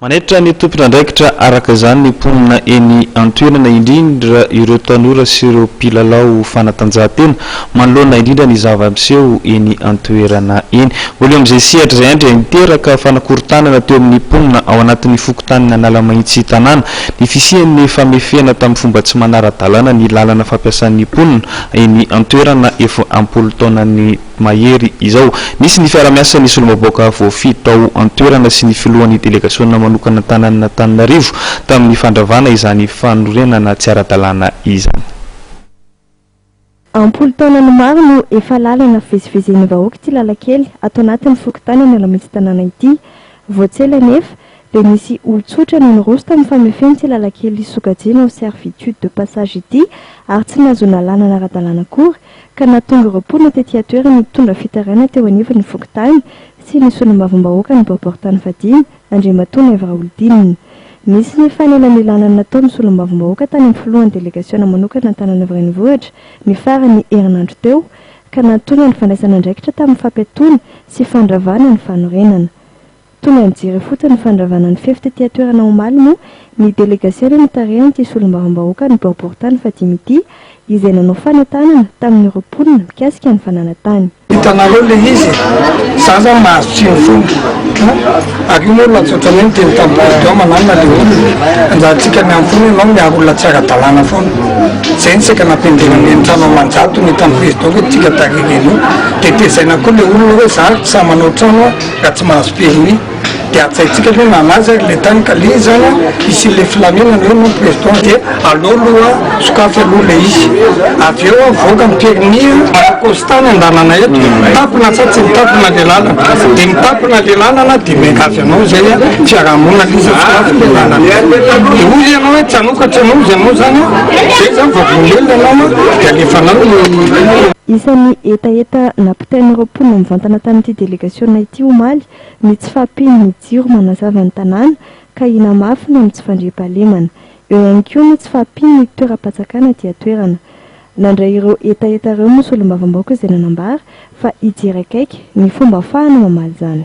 Manaitra ny tompon'andraikitra araka izany ny mponina eny an-toerana, indrindra ireo tanora sy ireo mpilalao fanatanjahantena, manoloana indrindra ny zava-miseho eny an-toerana eny. Mbola eo amin'izay sehatra izay indray niteraka fanakorontanana teo amin'ny mponina ao anatin'ny fokontanin'Analamahitsy tanàna ny fisian'ny famefena tamin'ny fomba tsy manara-dalàna ny làlana fampiasan'ny mponina eny an-toerana efa am-polo taonan'ny mahery izao. Nisy ny fiara-miasan'ny solomaboaka voafidy tao an-toerana sy ny filohan'ny delegasiona manokana an-tanànan'Antananarivo tamin'ny fandravana izany fanorenana tsy ara-dalàna izany. Am-polo taonany maro no efa lalana fivezivezen'ny vahoaka ity lalan-kely ato anatin'ny fokontany Analamitsy Tanàna ity. Vao tsy ela anefa dia nisy olon-tsotra no niroso tamin'ny famefen'ity lalan-kely sokajiana ho servitude de passage ity ary tsy nahazoana lalana ara-dalàna akory ka nahatonga ireo mponina tety an-toerana nitondra fitarainana teo anivon'ny fokontany sy ny solombavambahoaka ny Boriborintany fahadimy, Andriamatoa Naivo Raholidinina. Nisy ny fanelanelanana nataon'ny solombavambahoaka tany amin'ny filohan'ny delegasiona manokana Antananarivo Renivohitra ny faran'ny herinandro teo ka nahatonga ny fandraisana andraikitra tamin'ny fampiatoana sy fandravana ny fanorenana Tonga nijery fotsiny ny fandravana ny fefy tety an-toerana omaly moa ny delegasiona notarihan'ity solombavambahoaka ny Boaboritany fahadimy ity izay nanao fanatanana tamin'ireo mponina mikasika ny fananantany. Hitanareo ilay izy e! Za zany mahazo tsiny foana a! Ary io moa ilay tsy ohatran'ny hoe miteny tamin'ny président manana ilay olona. Anjarantsika miandry foana ianao miaro olona tsy ara-dalàna foana. Izay no saika nampianjera ny eny trano Amanjato ny hitan'ny président hoe tsy tika tary ireny io. Dia tezaina koa ilay olona hoe za ary tsy sahy manao trano aho. ka tsy mahazo permis de hatsaintsika aloha nanazy ary le tany ka le zany a hisian'le filaminana hoe non perton de aleo aloha sokafy aloha le izy avy eo avoaka ny permis a Costa ny andalana eto mitapona sa tsy mitapona le lalana de mitapona le lalana de miangavy anao zay a fiarahamonina le izy a sokafy le lalana de hoy ianao hoe tsy anao ka tsy anao ianao zany a zay zany vao velona ianao a de alefanao ny Isan'ny hetaheta nampitombo Tain'ireo mponina nivantana tamin'ity delegasiona ity omaly ny tsy fahampian'ny jiro manazava ny tanàna ka hinamafy ny amin'ny tsy fandriampahalemana. Eo ihany koa ny tsy fahampian'ny toeram-patsakana aty an-toerana. Nandray ireo hetaheta ireo moa solombavambahoaka izay nanambara fa hijery akaiky ny fomba afahana mamaly izany.